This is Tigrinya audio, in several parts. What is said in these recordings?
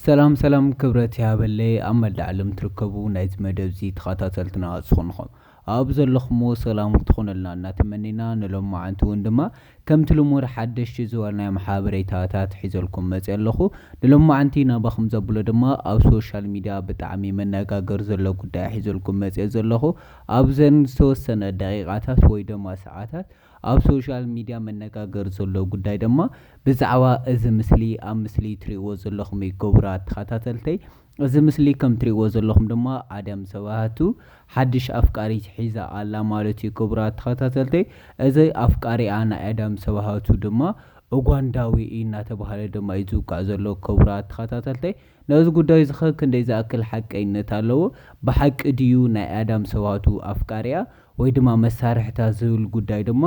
ሰላም ሰላም ክብረት ይሃበለይ ኣብ መላእ ዓለም ትርከቡ ናይዚ መደብዚ ተኻታተልትና ዝኾንኹም ኣኣብ ዘለኹምዎ ሰላም ክትኾኑልና እናተመኔና ንሎምዓንቲ ውን ድማ ከምቲ ልሙድ ሓደሽቲ ዝበልናዮም ሓበሬታታት ሒዘልኩም መጼ ኣለኹ ንሎምዓንቲ ናባኹም ዘብሎ ድማ ኣብ ሶሻል ሚድያ ብጣዕሚ መናጋገሪ ዘሎ ጉዳይ ሒዘልኩም መጼ ዘለኹ ኣብዘን ዝተወሰነ ደቂቃታት ወይ ደማ ሰዓታት ኣብ ሶሻል ሚድያ መነጋገሪ ዘሎ ጉዳይ ደማ ብዛዕባ እዚ ምስሊ ኣብ ምስሊ ትሪእዎ ዘለኹም እዩ ኩቡራት ተኻታተልተይ እዚ ምስሊ ከም ትሪእዎ ዘለኹም ድማ ኣደም ሰባሃቱ ሓድሽ ኣፍቃሪት ሒዛ ኣላ ማለት እዩ ኩቡራት ተኻታተልተይ እዚ ኣፍቃሪኣ ናይ ኣደም ሰባሃቱ ድማ ኡጓንዳዊ እዩ እናተባሃለ ደማ እዩ ዝውቃዕ ዘሎ ኩቡራት ተኻታተልተይ ነዚ ጉዳይ እዚኸ ክንደይ ዝኣክል ሓቀይነት ኣለዎ ብሓቂ ድዩ ናይ ኣደም ሰባሃቱ ኣፍቃሪኣ ወይ ድማ መሳርሕታት ዝብል ጉዳይ ድማ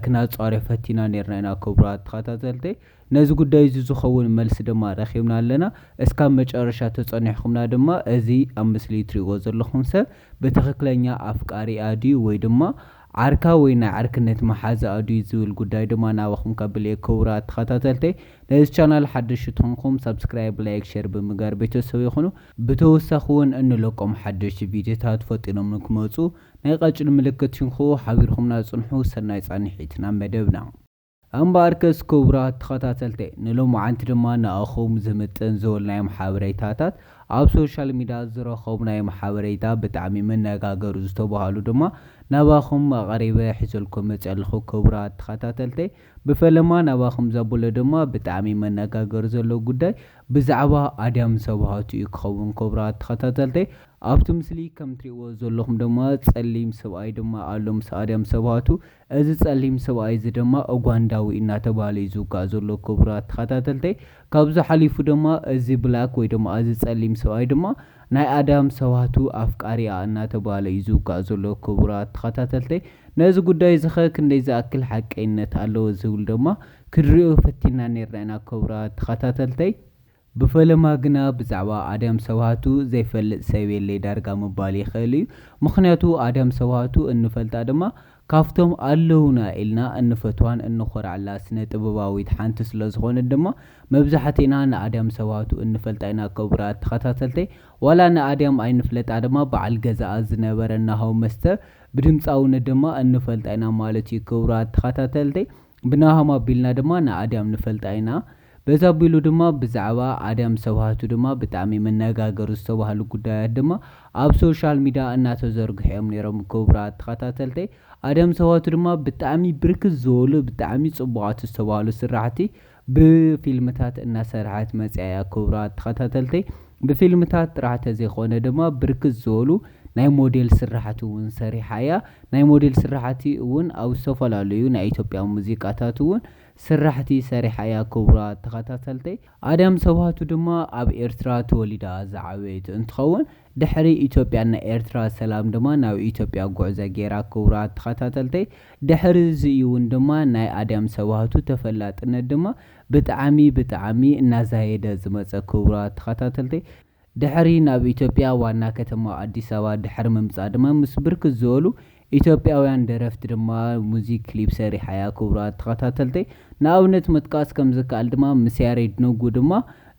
ክናጻርዮ ፈቲና ኔርና ኢና ክብራት ተኸታተልተይ ነዚ ጉዳይ እዚ ዝኸውን መልሲ ድማ ረኺብና ኣለና እስካብ መጨረሻ ተጸኒሕኹምና ድማ እዚ ኣብ ምስሊ ትሪእዎ ዘለኹም ሰብ ብትኽክለኛ ኣፍቃሪኣ ድዩ ወይ ድማ ዓርካ ወይ ናይ ዕርክነት መሓዛኣ ድዩ ዝብል ጉዳይ ድማ ናባኹም ከብልየ ክብራት ተኸታተልተይ ነዚ ቻናል ሓደሽቲ ትኾንኩም ሳብስክራይብ ላይክ ሸር ብምጋር ቤተሰበይ ኹኑ ብተወሳኺ ውን እንለቆም ሓደሽቲ ቪድዮታት ፈጢኖም ንክመጹ ናይ ቐጭን ምልክት ትንክኡ ሓቢርኩምና ጽንሑ ሰናይ ጻንሒት ናብ መደብና። እምበኣርከስ ክቡራት ተኸታተልተይ ንሎምዓንቲ ድማ ንኣኹም ዝምጥን ዝበልናዮም ሓበሬታታት ኣብ ሶሻል ሚድያ ዝረኸብናዮም ሓበሬታ ብጣዕሚ መነጋገሪ ዝተባሃሉ ድማ ናባኹም ኣቐሪበ ሒዘልኩም መጺኣ ኣለኹ ክቡራት ተኸታተልተይ ብፈለማ ናባኹም ዘብሎ ድማ ብጣዕሚ መነጋገሪ ዘለዎ ጉዳይ ብዛዕባ ኣድያም ሰብሃቱ እዩ ክኸውን ክቡራት ተኸታተልተይ ኣብቲ ምስሊ ከም ትሪእዎ ዘለኹም ድማ ፀሊም ሰብኣይ ድማ ኣሎ ምስ ኣድያም ሰብሃቱ እዚ ፀሊም ሰብኣይ እዚ ድማ ኡጋንዳዊ እናተብሃለ እዩ ዝውጋእ ዘሎ ክቡራት ተኸታተልተይ ካብዚ ሓሊፉ ድማ እዚ ብላክ ወይ ድማ ኣዚ ጸሊም ሰብኣይ ድማ ናይ ኣዳም ሰባቱ ኣፍቃሪኣ እናተባህለ እዩ ዝውጋእ ዘሎ ክቡራት ተኸታተልተይ ነዚ ጉዳይ እዚኸ ክንደይ ዝኣክል ሓቀይነት ኣለዎ ዝብል ደማ ክድሪኦ ፈቲና ኔርና ኢና ክቡራት ተኸታተልተይ ብፈለማ ግና ብዛዕባ ኣዳም ሰባቱ ዘይፈልጥ ሰብ የለይ ዳርጋ ምባል ይኽእል እዩ ምኽንያቱ ኣዳም ሰባቱ እንፈልጣ ድማ ካብቶም ኣለዉና ኢልና እንፈትዋን እንኾርዐላ ስነ ጥበባዊት ሓንቲ ስለ ዝኾነት ድማ መብዛሕቲእና ንኣድያም ሰባቱ እንፈልጣ ኢና ክቡራት ተኸታተልተይ ዋላ ንኣድያም ኣይንፍለጣ ድማ በዓል ገዛኣ ዝነበረ ናሆ መስተ ብድምጻውነት ድማ እንፈልጣ ኢና ማለት እዩ ክቡራት ተኸታተልተይ ብናሆም ኣቢልና ድማ ንኣዳም ንፈልጣ ኢና። በዚ ኣቢሉ ድማ ብዛዕባ ኣዳም ዝተባህቱ ድማ ብጣዕሚ መነጋገሪ ዝተባህሉ ጉዳያት ድማ ኣብ ሶሻል ሚዳ እናተዘርግሑ እዮም ነይሮም ክቡራት ተኸታተልተይ ኣዳም ዝተባህቱ ድማ ብጣዕሚ ብርክት ዝበሉ ብጣዕሚ ፅቡቓት ዝተባህሉ ስራሕቲ ብፊልምታት እናሰርሐት መፂኣ እያ ክቡራት ተኸታተልተይ ብፊልምታት ጥራሕ ተዘይኾነ ድማ ብርክት ዝበሉ ናይ ሞዴል ስራሕቲ እውን ሰሪሓ እያ ናይ ሞዴል ስራሕቲ እውን ኣብ ዝተፈላለዩ ናይ ኢትዮጵያ ሙዚቃታት እውን ስራሕቲ ሰሪሓ እያ ክቡራት ተኸታተልተይ። ኣዳም ሰብሃቱ ድማ ኣብ ኤርትራ ተወሊዳ ዝዓበየት እንትኸውን ድሕሪ ኢትዮጵያን ናይ ኤርትራ ሰላም ድማ ናብ ኢትዮጵያ ጉዕዘ ገይራ ክቡራት ተኸታተልተይ። ድሕሪ እዚ እዩ እውን ድማ ናይ ኣዳም ሰብሃቱ ተፈላጥነት ድማ ብጣዕሚ ብጣዕሚ እናዛየደ ዝመፀ ክቡራት ተኸታተልተይ። ድሕሪ ናብ ኢትዮጵያ ዋና ከተማ ኣዲስ ኣበባ ድሕሪ ምምጻእ ድማ ምስ ብርክት ዝበሉ ኢትዮጵያውያን ደረፍቲ ድማ ሙዚክ ክሊፕ ሰሪሓ'ያ ክቡራት ተኸታተልተይ። ንኣብነት ምጥቃስ ከም ዝከኣል ድማ ምስ ያሬድ ነጉ ድማ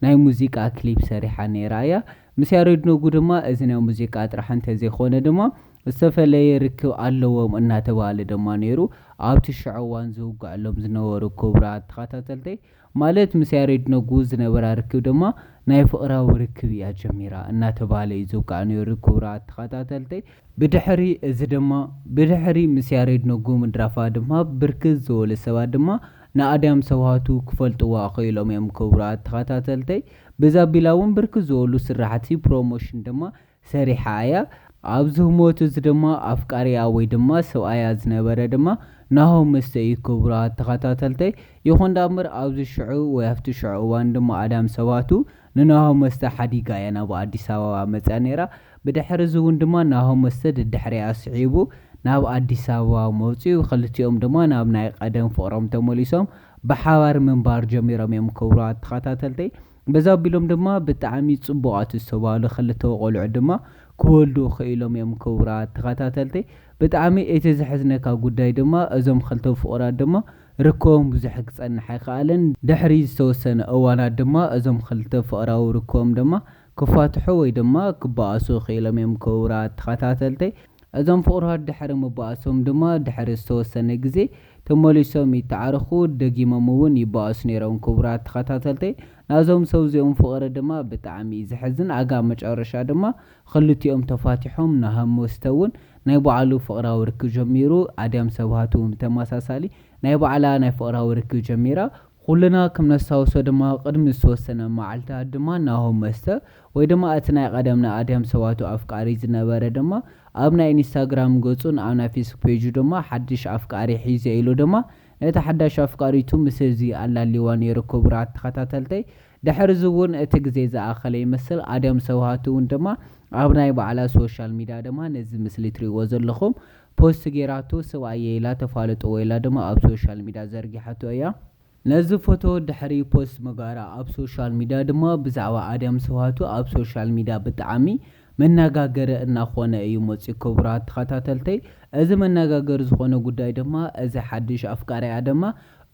ናይ ሙዚቃ ክሊፕ ሰሪሓ ነይራ እያ። ምስ ያሬድ ነጉ ድማ እዚ ናይ ሙዚቃ ጥራሕ እንተዘይኮነ ድማ ዝተፈለየ ርክብ ኣለዎም እናተባህለ ድማ ነይሩ ኣብቲ ሽዑ እዋን ዝውግዐሎም ዝነበሩ ክቡራት ተኸታተልተይ። ማለት ምስ ያሬድ ነጉ ዝነበራ ርክብ ድማ ናይ ፍቕራዊ ርክብ እያ ጀሚራ እናተባህለ እዩ ዝውቃዕ ነይሩ ክቡራት ተኸታተልተይ። ብድሕሪ እዚ ድማ ብድሕሪ ምስ ያሬድ ነጉ ምድራፋ ድማ ብርክት ዝበሉ ሰባት ድማ ንኣድያም ሰብሃቱ ክፈልጥዋ ክኢሎም እዮም ክቡራት ተኸታተልተይ። በዚ ኣቢላ እውን ብርክት ዝበሉ ስራሕቲ ፕሮሞሽን ድማ ሰሪሓ እያ። ኣብዚ ህሞት እዚ ድማ ኣፍቃሪኣ ወይ ድማ ሰብኣያ ዝነበረ ድማ ናሆም መስተ እዩ ክቡራት ተኸታተልተይ። ይኹን ዳኣምበር ኣብዚ ሽዑ ወይ ኣብቲ ሽዑ እዋን ድማ ኣዳም ሰባቱ ንናሆም መስተ ሓዲጋ እያ ናብ ኣዲስ ኣበባ መጽያ ነይራ። ብድሕሪ እዚ እውን ድማ ናሆም መስተ ደድሕሪኣ ስዒቡ ናብ ኣዲስ ኣበባ መጽዩ ክልቲኦም ድማ ናብ ናይ ቐደም ፍቕሮም ተመሊሶም ብሓባር ምንባር ጀሚሮም እዮም ክቡራት ተኸታተልተይ። በዚ ኣቢሎም ድማ ብጣዕሚ ጽቡቃት ዝተባህሉ ክልተ ቆልዑ ድማ ክወልዱ ክኢሎም እዮም ክቡራት ተኸታተልተይ ብጣዕሚ እቲ ዘሕዝነካ ጉዳይ ድማ እዞም ክልተ ፍቁራት ድማ ርክቦም ብዙሕ ክጸንሕ ኣይከኣለን ድሕሪ ዝተወሰነ እዋናት ድማ እዞም ክልተ ፍቅራዊ ርክቦም ድማ ክፋትሑ ወይ ድማ ክባኣሱ ክኢሎም እዮም ክቡራት ተኸታተልተይ እዞም ፍቁራት ድሕሪ ምባኣሶም ድማ ድሕሪ ዝተወሰነ ግዜ ተመሊሶም ይተዓረኩ ደጊሞም እውን ይባኣሱ ነይሮም ክቡራት ተከታተልተይ ናዞም ሰብ እዚኦም ፍቅሪ ድማ ብጣዕሚ እዩ ዘሕዝን ኣጋ መጨረሻ ድማ ክልቲኦም ተፋቲሖም ናሆም መስተ እውን ናይ ባዓሉ ፍቅራዊ ርክብ ጀሚሩ ኣድያም ሰብሃት እውን ብተማሳሳሊ ናይ ባዕላ ናይ ፍቅራዊ ርክብ ጀሚራ ኩልና ክምነስታውሶ ድማ ቅድሚ ዝተወሰነ ማዓልታት ድማ ናሆም መስተ ወይ ድማ እቲ ናይ ቐደም ናይ ኣድሃም ሰባቱ ኣፍቃሪ ዝነበረ ድማ ኣብ ናይ ኢንስታግራም ገጹን ኣብ ናይ ፌስክ ፔጁ ድማ ሓድሽ ኣፍቃሪ ሒዘ ኢሉ ድማ ነታ ሓዳሽ ኣፍቃሪቱ ምስ እዚ ኣላልይዋ ኔሩ ክቡራት ተኸታተልተይ ድሕሪ እዚ ውን እቲ ግዜ ዝኣኸለ ይመስል ኣድያም ሰብሃቱ ውን ድማ ኣብ ናይ ባዕላ ሶሻል ሚድያ ድማ ነዚ ምስሊ ትሪእዎ ዘለኹም ፖስት ጌራቶ ስብኣየይ ኢላ ተፋልጥዎ ኢላ ድማ ኣብ ሶሻል ሚድያ ዘርጊሓቶ እያ። ነዚ ፎቶ ድሕሪ ፖስት ምግባራ ኣብ ሶሻል ሚድያ ድማ ብዛዕባ ኣድያም ስብሃቱ ኣብ ሶሻል ሚድያ ብጣዕሚ መናጋገሪ እናኾነ እዩ መፂኡ ክቡራት ተኸታተልተይ እዚ መናጋገሪ ዝኾነ ጉዳይ ድማ እዚ ሓዱሽ ኣፍቃሪኣ ድማ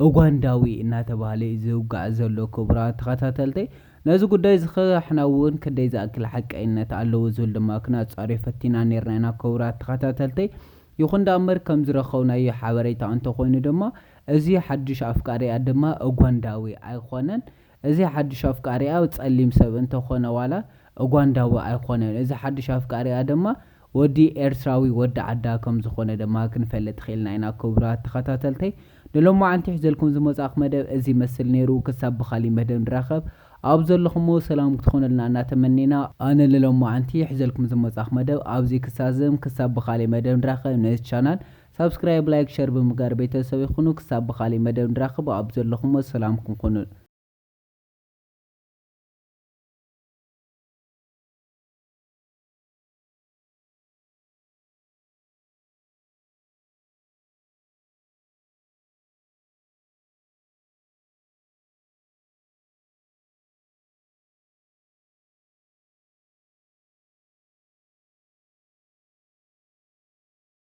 ኡጋንዳዊ እናተባህለ እዩ ዝውጋዕ ዘሎ ክቡራት ተኸታተልተይ ነዚ ጉዳይ እዚ ኸሕና እውን ክንደይ ዝኣክል ሓቀይነት ኣለዎ ዝብል ድማ ክናፃርዮ ፈቲና ኔርና ኢና ክቡራት ተኸታተልተይ ይኹን ዳኣ እምበር ከምዝረኸብናዮ ሓበሬታ እንተኾይኑ ድማ እዚ ሓዱሽ ኣፍቃሪኣ ድማ ኡጓንዳዊ ኣይኾነን። እዚ ሓዱሽ ኣፍቃሪኣ ጸሊም ሰብ እንተ ኾነ ዋላ ኡጓንዳዊ ኣይኾነን። እዚ ሓዱሽ ኣፍቃሪኣ ድማ ወዲ ኤርትራዊ ወዲ ዓዳ ከም ዝኾነ ድማ ክንፈልጥ ኺኢልና ኢና። ክቡራት ተኸታተልተይ ንሎማዓንቲ ሒዘልኩም ዝመጻእኩ መደብ እዚ ይመስል ነይሩ። ክሳብ ብኻሊእ መደብ ንራኸብ ኣብ ዘለኹሞ ሰላም ክትኾኑልና እና ተመኒና። ኣነ ንሎማዓንቲ ሒዘልኩም ዝመጻእኩ መደብ ኣብዚ ክሳዝም ክሳብ ብኻሊእ መደብ ንራኸብ ነዚ ቻናል ሳብስክራይብ ላይክ ሸር ብምግባር ቤተሰበይ ኩኑ ክሳብ ብካሊእ መደብ ንራከብ ኣብ ዘለኩሞ ሰላምኩም ኩኑ።